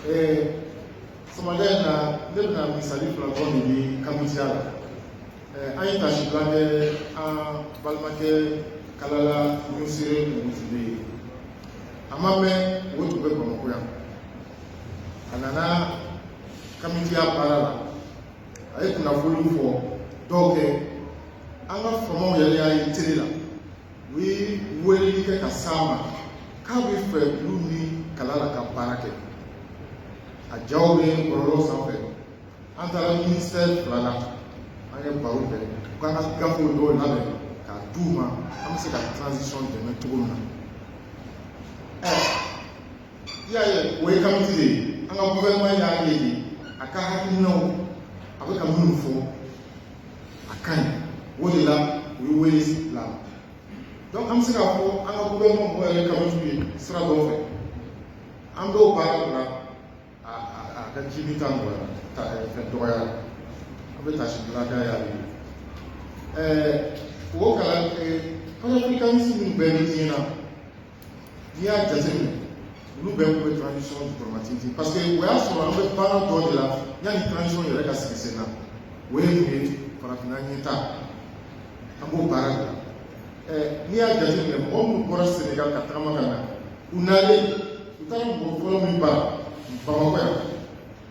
Eh, sama da na ne bɛna misali fila dɔ de di kamitiya la eh, an ye tasibila kɛ an balimakɛ kalala niusere omotunde ye a ma mɛn o tun bɛ bamakɔ yan a nana kamitiya baara la a ye kunnafoniw fɔ dɔw kɛ an ka faamaw yɛrɛ y'a ye tele la u ye weleli kɛ ka s'a ma k'a bɛ fɛ olu ni kalala ka baara kɛ a jaw bɛ bɔlɔlɔ sanfɛ an taara ministère fila la an ye baro kɛ u k'an ka gafew dɔw labɛn k'a d'u ma an bɛ se ka transition dɛmɛ cogo min na ɛ i y'a ye o ye kamiti de ye an ka gouvernement y'a ye de a ka hakilinaw a bɛ ka minnu fɔ a ka ɲi o de la u ye wele bila donc an bɛ se k'a fɔ an ka gouvernement mɔgɔ yɛrɛ kamitiw ye sira dɔw fɛ an b'o baara bila a a ka jibi ta nɔgɔya ta fɛn dɔgɔya a bɛ tasibila ka y'a ye ɛɛ o kalan panafricaniste minnu bɛɛ bɛ diɲɛ na n'i y'a jateminɛ olu bɛɛ kun bɛ transition diplomatique parce que o y'a sɔrɔ an bɛ baara dɔ de la yanni transition yɛrɛ ka sigi sen na o ye mun ye farafinna ɲɛtaa an b'o baara de la ɛ n'i y'a jateminɛ mɔgɔ minnu bɔra senegal ka tagama ka na u nalen u taara mɔgɔ fɔlɔ min bara bamakɔ yan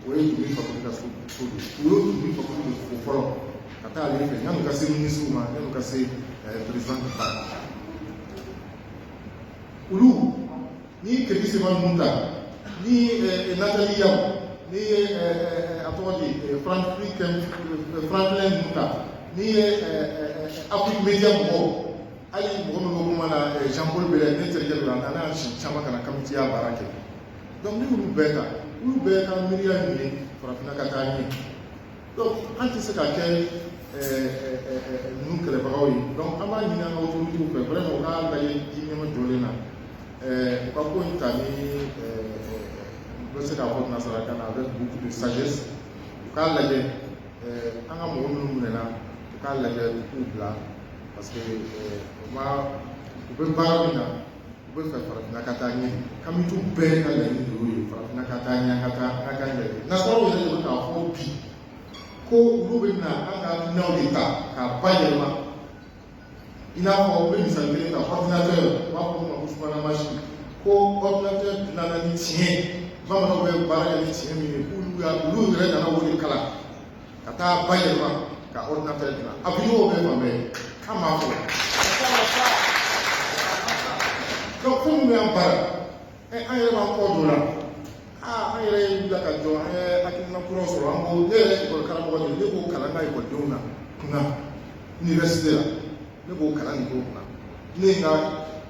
o ye dunbi fakoli ka so so de ye o ye dunbi fakoli de fo fɔlɔ ka taa ale fɛ yanni u ka se minisiriw ma yanni u ka se ɛɛ perezidan ka taa olu ni kemi seba ninnu ta ni nathalie yamb ni ɛ a tɔgɔ di franklin ninnu ta ni ɛ afrique media mɔgɔw hali mɔgɔ min ko kuma na jean paul bɛlɛ ne terikɛ dɔ la a nana siɲɛ caman ka na kamitiya baara kɛ donc ni olu bɛɛ ta olu bɛɛ ka miiriya min ye farafinna ka taa ɲɛ donc an tɛ se ka kɛ ninnu kɛlɛbagaw ye donc an b'a ɲini an ka otoritiw fɛ vraiment u k'a lajɛ ji ɲɛmajɔlen na u ka ko in ta n bɛ se k'a fɔ nanzarakan na avec beaucoup de sagesse u k'a lajɛ an ka mɔgɔ minnu minɛna u k'a lajɛ u k'u bila parce que u ma u bɛ baara min na u bɛ fɛ farafinna ka taa ɲɛ kamitiw bɛɛ ka laɲini de y'o ye farafinna ka taa ɲɛ ka taa ka taa ɲɛ nasaraw yɛrɛ de bɛ k'a fɔ bi ko olu bɛ na an ka minɛnw de ta k'a bayɛlɛma i n'a fɔ u bɛ misali kelen ta ordinateur u b'a fɔ o ma ko subahana mansin ko ordinateur dilanna ni tiɲɛ ye bamananw bɛ baara kɛ ni tiɲɛ min ye k'olu y'a olu yɛrɛ nana o de kalan ka taa bayɛlɛma ka ordinateur dilan avion bɛɛ fan bɛɛ an b'a fɔ donc ko minnu y'an baara ɛ an yɛrɛ b'an kɔ don o la aa an yɛrɛ ye wulila ka jɔ an ye hakilina kuraw sɔrɔ an ko ne yɛrɛ ekɔli karamɔgɔ de ne b'o kalan n ka ekɔlidenw na kunna université la ne b'o kalan nin k'o kunna ne ye n ka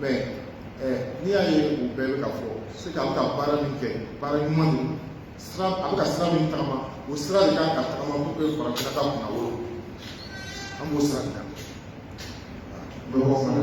mais n'i y'a ye o bɛɛ bɛ ka fɔ c'est que a bɛ ka baara min kɛ baara ɲuman don sira a bɛ ka sira min tagama o sira de kan ka tagama pour que farafinna ka kunnawolo an b'o sira de kan dɔgɔ fana